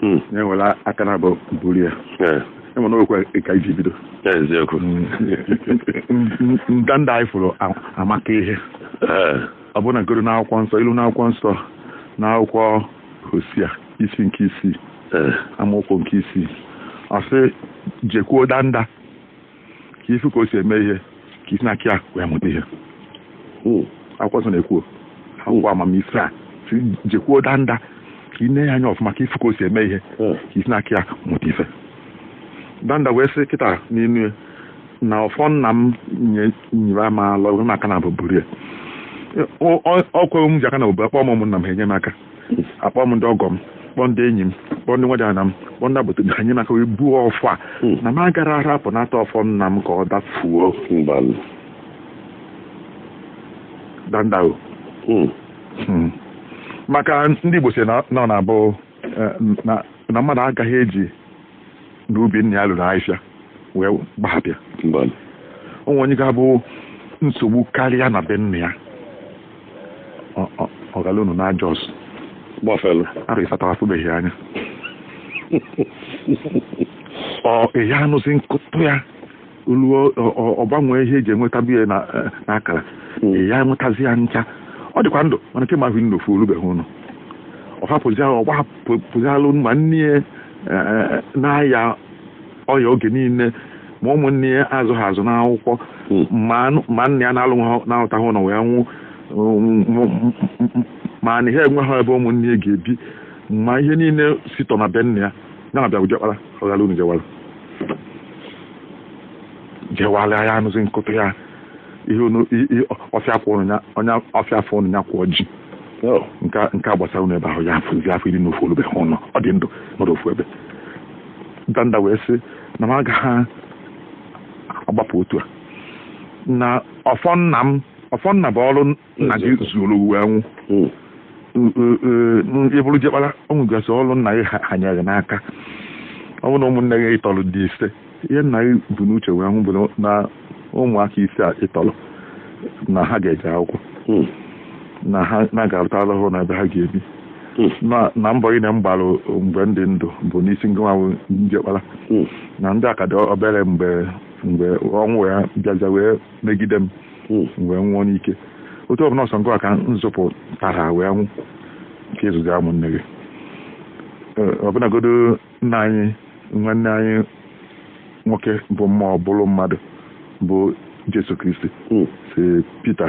hmm. ya ewere aka naabọ buru ya ị ma na okwu a ka i ji bido eziokwu ndanda anyị fụrụ amaka ihe ọ bụ na a kọrọ n'akwụkwọ nsọ ilu n'akwụkwọ nsọ n'akwụkwọ hosia isi nke isii amaokwu nke isii ọ sị jekwuo danda ka ị fụ ka o si eme ihe ka i si n'aka ya wee mụta ihe hmm. akwụkwọ nsọ na-ekwu akwụkwọ amamife a jekwuo danda ka i nee ya anya ọfụma ka ị fụ ka o si eme ihe hmm. ka i si n'aka ya mụta ife danda wee sị kịta n'inu ya na ọfọ nna m nyịrị m alọ na aka naabọ buru ya ọkwa m ji aka naabọ bu akpọ m ụmụnna m ha enye m aka akpọ m ndị ọgọ m kpọọ ndị enyi m kpọọ ndị nwadiana m kpọọ ndị agbata obi ha nye m aka wee buo ọfọ a Hmm. na m agara arapụnata ọfọ nna m ka ọ dafuo mbanụ danda o Hmm. Hmm. maka ndị Igbo si na na ọ na-abụ eh, na na mmadụ agaghị eji na ubi nna ya luru ahịhịa wee gbahapụ ya o nwee onye ga-abụ nsogbu karịa na be nna ya ọ ghala unu na Jos gbafelu arọ isatọ afụbeghị anya ọ ehi anụzi nkụtụ ya ruo ọ gbanwee ihe e ji enwetabu ya n'akara hmm. ya enwetazi ya ncha ọ dịkwa ndụ mana kemgbe ahụ nnofu o rubeghị ụnọ ọ hapụzi ahụ ọ gbapụzialụ ma nne ya eh, na-aya ọya oge niile ma ụmụnne ya azụghị azụ n'akwụkwọ hmm. ma nna ya na-alụ na-arụtaghị ụnọ wee nwụ ma na ihe enweghị ebe ụmụnne ya ga-ebi ma ihe niile si tọ na be nna ya ya na-abịa bụ diọkpara ọ ghara unu jewara jewara ya anụzi nkụtụ ya ihe unu i- i- ọfịa kwụ unu ya onye ọfịa afọ ụnọ ya kwụọ ji Oh, nke a- nke a gbasara unu ebe ahụ ya afụzi afọ iri na ofu o lubeghị ụlọ ọ dị ndụ nọrọ ofu ebe danda wee sị na m agaghị agbapụ otu a na ọfọ nna m ọfọ nna bụ ọrụ nna gị zuoro wee nwụ ị bụrụ diọkpara o nwegasị ọrụ nna gị hanyere n'aka ọ bụ na ụmụnne gị ị tọrọ dị ise ihe nna gị bu n'uche wee nwụ bụ na ụmụaka ise a ị tọrọ na ha ga-eje akwụkwọ hmm. na ha na a ga-arụtara ha ụnọ ebe ha ga-ebi hmm. na mbọ niine m gbara mgbe m dị ndụ bụ n'isi ngị nwa wụ diọkpara hmm. na ndị a ka dị obere mgbe mgbe ọnwụ ya bịaza wee megide m hmm. m wee nwụọ n'ike otu ọbụla ọ sọ ngị ka m zụpụtara wee nwụ ka ị zụzia ụmụnne gị ọbụnagodu nna anyị nwanne anyị nwoke bụ mmụọ bụrụ mmadụ bụ Jesu Kristi hmm. sị Pita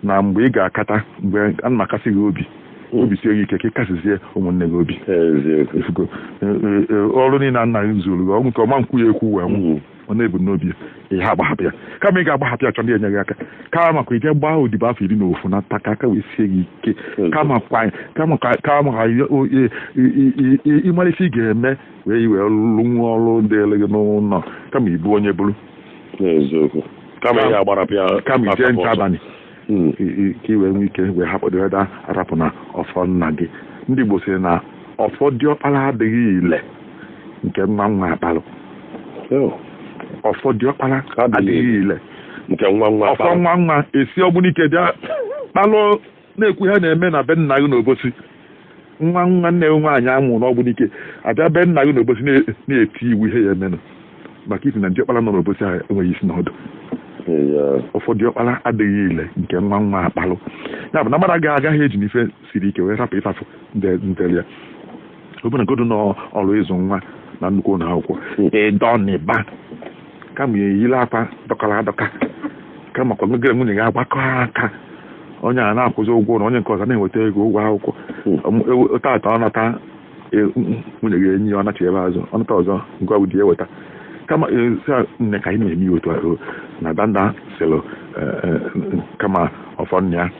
na mgbe ị ga-akata mgbe a na m akasi gị obi hmm. obi sie gị ike ka ị kasizie ụmụnne gị obi ọrụ niile nna gị zụrụ gị ọnwụ nke ọma nkwụ ya ekwu wee nwụ ọ na-ebu n'obi ya ihe agbahapụ ya kama ị ga-agbahapụ ya chọ ndị enye gị aka kama kwa i je gbaa odibo afọ iri na ofu nata ka aka wee sie gị ike kama kwa kama kwa kama kwa i- o- i- i- i- i- ị mara ife ị ga-eme wee wee lụwa ọrụ dịlị gị n'ụlọ kama ibu onye bụrụ n'eziokwu kama ya agbarapịa kama i je nche abalị hmm, ka i wee nwee ike wee hapụ dịreda arapụ na ọfọ nna gị ndị Igbo sịrị na ọfọ diọkpara adịghị ile nke nwa nwa akpalụ oh. ọfọ diọkpara adịghị ile nke nwa nwa ọfọ nwa nwa esi Ogbunike bịa kpalụ na-ekwu ihe na-eme na be nna gị n'Obosi nwa nwa nne nwaanyị a mụrụ n'Ogbunike abịa be nna gị n'Obosi na-eti iwu ihe ya-emenụ maka isi na diọkpara nọ n'Obosi ahụ enweghị isi n'ọdụ ọfọ diọkpara adịghị ile nke nwa nwa akpalụ ya bụ na mmadụ agaghị agaghị eji na ife siri ike wee rapụ ife afụ dịlị ya ọbụnagodu n'ọrụ ịzụ nwa na nnukwu ụlọ akwụkwọ ị dọnịba kama ya eyila akwa dọkara adọka kama kwa gị na nwunye gị agbakọ aka onye a na-akwụzi ụgwọ ụnọ onye nke ọzọ na-enweta ego ụgwọ akwụkwọ Ọmụ- ewe- tata ọ nata e, m- nwunye gị enye ya ọ nachighaa azụ ọ nata ọzọ ngị bụ di ya weta kama e, sị ya, nne ka anyị na-eme ya otu a o, na danda sịlụ e, e, kama ọfọ nna ya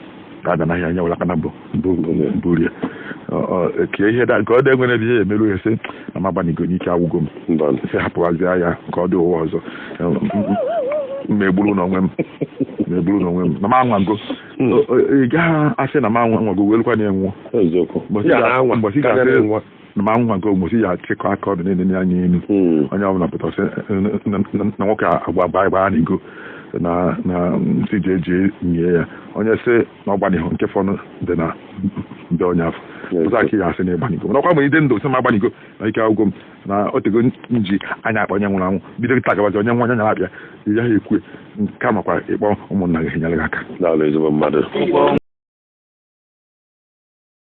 ada n'ahịa ya welụ aka naabọ buru ya ka ihe dị ka ọ dị e nwere ebe ihe emeru ya sị na m agbanigo na ike agwụgo m sị hapụwazie ya ka ọ dị ụwa ọzọ megburu n'onwe m megburu n'onwe m na m anwago ị gaghị asị na m anwago belụkwa na ị nwụọ Eziokwu. Mbọsị Ya na anwa, mbọsị ka ị ga-asị enwa. na m anwago mbọsị ị ya-achịkọ aka ọdụ niile ya anya elu Hmm. onye ọbụla pụtara sị na- na na- na nwoke a agba gbaa gbanigo na na nsị ji eji nyie ya onye sị na ọ gbanighụ nke fọnụ dị na ndị onye afọ Yes, ụzọ aka ya asị na ị gbanigo mana ọkwa mgbe ị dị ndụ sị m agbanigo na ike agwụgo m na o tego m ji anya akpa onye nwụrụ anwụ bido kịta gabazi onye nwa onye nyara abịa ya ha ekwe nke a makwa ị kpọọ ụmụnna gị enyere gị aka Daalụ ezigbo mmadụ.